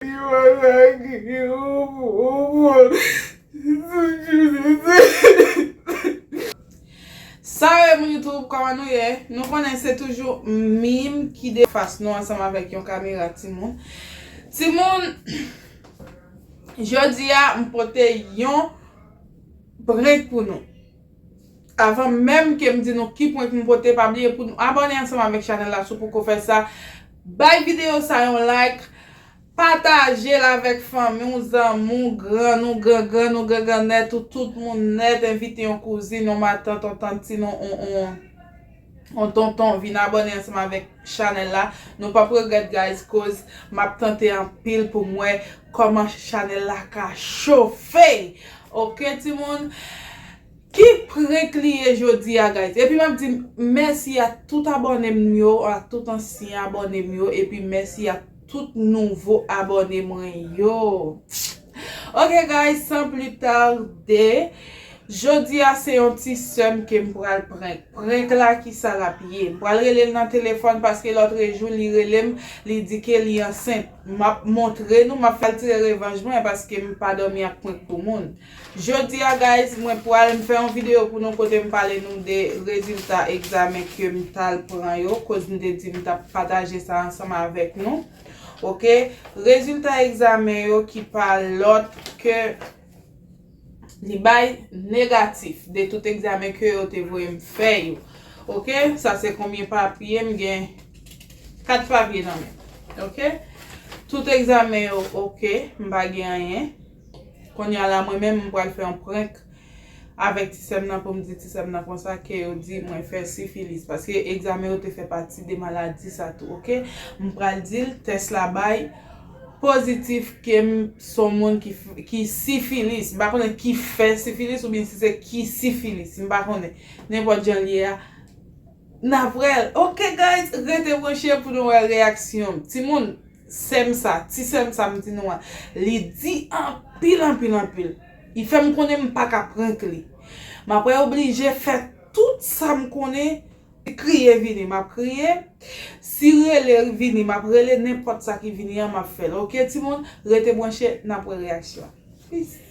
Yo atake yo. Salut les moun YouTube koman nou ye nou konnen se toujou mim ki de fas nou ansanm avèk yon kamera timoun timoun jodi a m pote yon prenk pou nou. Avan menm kem di nou ki prank m pote pa bliye pou nou abòne ansanm avèk chanèl la si w poko fè sa bay videyo sa yon like patajel avèk fanmi w zanmi w grann ou gran grann ou gran grannèt ou tout moun nèt envite yon kouzin yon matant yon tant ti non ou ou. Yon tonton vin abone ansanm avèk chanèl la nou pap regrèt guys koz map tante anpil poum wè kòman chanèl la ka chofe ok timoun ki prank li ye jodia guys epi map di mèsi a tout abònem yo a tout ansyen abònem yo epi mèsi a tout nouvo abòne mwen yo. Ok guys san pli tarde Jodi a se yon ti sèm kem pral prank Prank la kisa lap ye M pral relel nan telefòn paske lotrejou li relem li di ke li ansent Map montre nou map fèl tire revanj mwen paske m pa domi ak prank pou moun Jodi a guys mwen pral m fè yon video pou nou kote m pale nou de rezilta egzamen kem tal pran yo koz m te di m tap pataje sa ansanm avèk nou. Ok, rezilta egzamen yo ki pa lòt ke li bay negatif de tout egzamen ke yo te voye m fè yo. Ok, sa se konbyen papye m gen 4 papye nan men m. Ok, tout egzamen yo ok, m pa gen anyen. Konnya la mwen menm m pral fè yon prank avèk ti sèm nan poum di ti sèm nan konsa ke yo di mwen fè sifilis paske egzamen yo te fè pati de maladi sa tou ok m pral dil tès la bay pozitif kem son moun ki sifilis m pa konnen ki fè sifilis oubyen si se ki sifilis m pa konnen nenpòt jan l ye a nap wèl ok guys rete branche pou nou wè reyaksyon m timoun. Sèm sa, ti sèm sa m di nou an, li di anpil anpil anpil. Li fè m konnen m pa ka prank li. M aprè oblije fè tout sa m konnen. Si kriye vini m ap kriye, si rele vini m ap rele, nenpòt sa ki vini an m ap fè l ok timoun, rete branche n ap wè reyaksyon. Peace.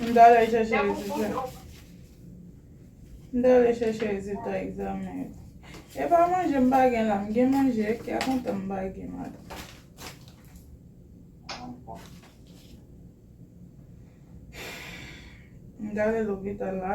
M ta ale chèche rezilta M ta ale chèche rezilta egzamen yo E pa manje m pa gen la M gen manje e kè kontan m pa gen la M ta ale lopital la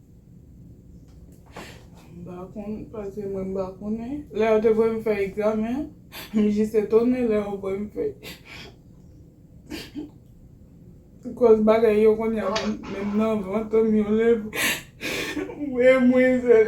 M pa konn, paske mwen m pa konnen. Lè yo te voye m fè egzamen an, m jis etone lè yo voye m fè. Kòz bagay yo kounye a menm nan vant m yo leve. M wè mwen sèl.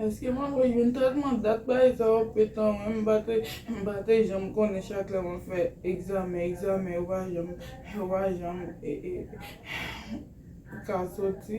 Eske mwen dwe jwenn tretman dat bay sa yo pè tan wi m pa te janm konnen chak lè mwen fè egzamen egzamen yo pa janm yo pa janm ka soti.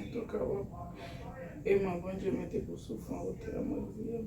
Antouka wap eman Bondye mete pou souf an wotè a mwen priye m.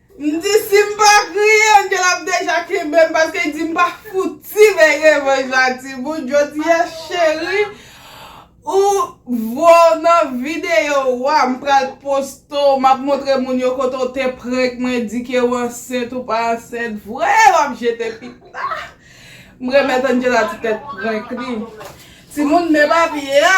M di si m pa kriye Angel ap deja kenbe m paske li di m pa fouti bay revanj la timoun jodia cheri ou vwa w nan video wa m pral poste w map montre moun yo kote w te prank mwen di ke w ansent ou pa ansent vre wap jete pita m remèt Angela ti tèt prank li timoun men papye a.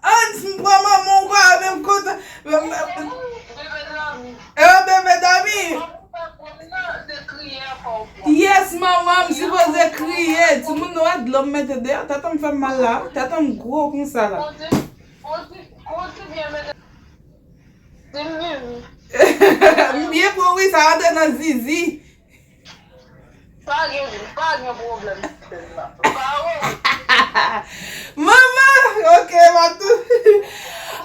Ans m pran manman w pa avè m kontan. Ewa bebe dòmi. Yes manman m sipoze kriye. Timoun nou wè dlo m mete deyò tèt an m fè m mal la. Tèt an m gwo konsa la. M byen bon wi sa rantre nan zizi. Pa gen pa gen problem sèm nan. Pa wont. Mama ok map tou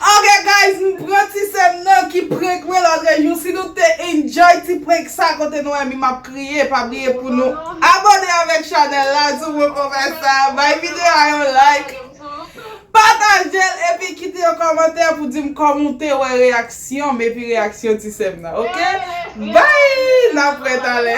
Ok guys m pran ti sèm nan ki prank mwen lòt rejou si nou te enjoy ti prank sa kote nou wè mi map kriye pa bliye pou nou abone avèk chanèl la sou mwen pran fè sa bay video a yon like. Patajel epi kite yon kòmantè pou dim kòm ou te wè reyaksyon m epi reyaksyon ti sèm nan ok bby nap wè talè.